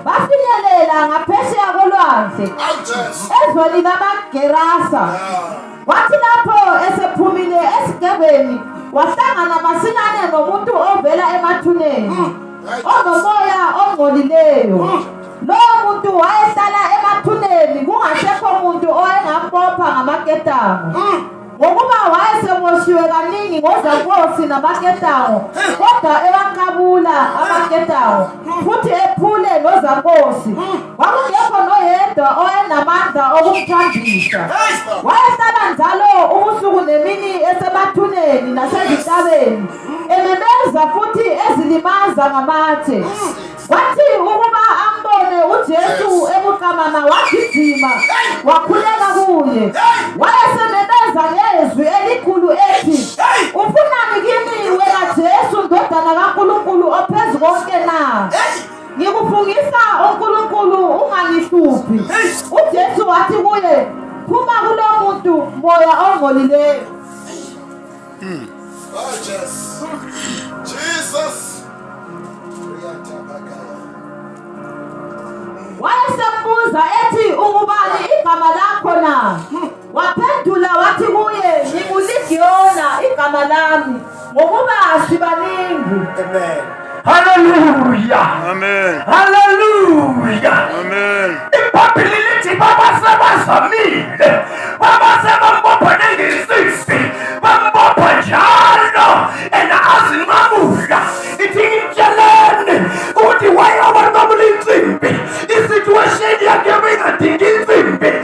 bafinyelela ngaphesheya kolwandle ezweni lamagerasa wathi lapho esephumile esigebeni wahlangana masinyane nomuntu ovela emathuneni hmm. onomoya ongcolileyo hmm. lowo muntu wayehlala emathuneni kungasekho muntu owayengambopha ngamaketango hmm. ngokuba wayeseboshiwe kaningi ngozakosi namaketango kodwa ebanqabula amaketango futhi ephule nozakosi kwakungekho noyedwa owayenamandla okumthambisa wayehlala njalo ubusuku nemini esemathuneni nasezintabeni ememeza futhi ezilimaza ngamatshe Wathi ukuba ambone uJesu ebuqamama wagijima wakhuleka kuye. Wayesememeza ngezwi elikhulu ethi, "Ufunani kimi wena Jesu ndodana kaNkulunkulu ophezu konke na?" Ngikufungisa uNkulunkulu ungangihluphi. UJesu wathi kuye, "Phuma kulo muntu moya ongcolileyo." Mm. Oh, Jesus. Jesus. Wayesembuza ethi ungubani igama lakho na? Waphendula wathi kuye nginguLigiyona igama lami ngokuba sibaningi. Amen. Haleluya. Amen. Haleluya. Amen. Ibhayibheli lithi baba sebazamile. Baba sebambopha nengisisi. Bambopha njalo and azinqamula. Ithi ngitsheleni ukuthi wayoba nqamula insimbi. I-situation yakhe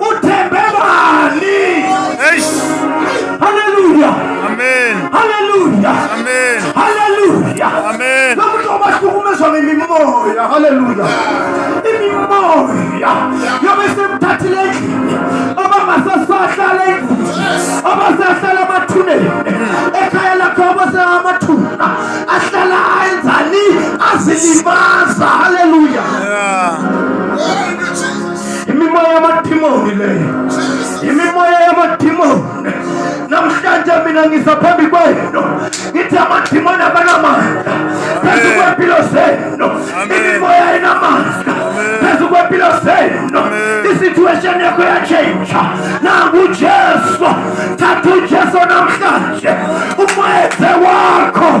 Uthembe bani? Eish. Hallelujah. Amen. Hallelujah. Amen. Hallelujah. Amen. Lokuthi obahlukumezwa ngemimoya. Hallelujah. Imimoya. Yobe semthathile endlini. Abangasasahlala endlini. Abasahlala amathuneni. Ekhaya lakho abasamathuna. Ahlala enzani? Azilimaza. Hallelujah. Yeah. imimoya yamadimoni leyo imimoya yamadimoni namhlanje mina ngisa phambi kwenu ngithi amadimoni abanamandla phezu kwempilo zenu imimoya enamandla phezu kwempilo zenu isituation yakho yatshentsha nangu ujesu thatha ujesu namhlanje umoyethe wakho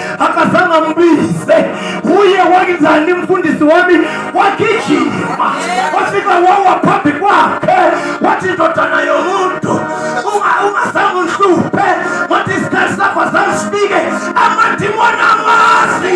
akazange ambize uye wenzani mfundisi wami wagijima wafika wawa phambi kwakhe wathi ndodana yomuntu ungazange unhluphe wathi isikhathi sakho azange sifike amadimoni amazi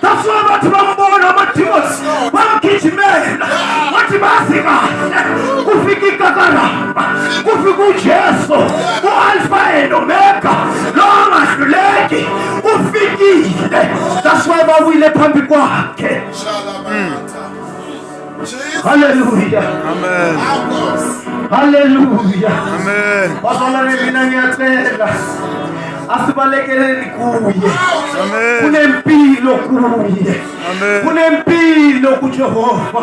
That's why abantu bambona amademons bamgijimela wathi bazima kufika ikakara kufika uJesu uAlpha and Omega lo angahluleki ufikile that's why bawile phambi kwakhe Haleluya. Amen. Haleluya. Amen. Bazalwane mina ngiyacela asibalekeleni kuye. Amen. Kunempilo kuye. Amen. Kunempilo kuJehova.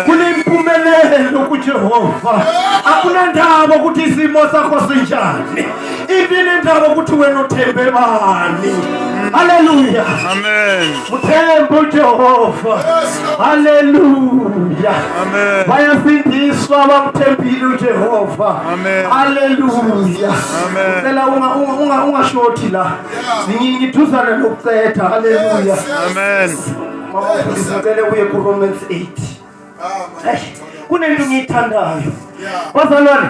Kunempumelelo kuJehova. Akunandaba ukuthi isimo sakho sinjani. ivile indaba ukuthi wena uthembe bani haleluya uthembe ujehova haleluya bayasindiswa bamthembile ujehova haleluya cela ungashoti la ngithuzane nokucetha haleluya ngicele uye kuromans 8 kunento ngiyithandayo bazalwane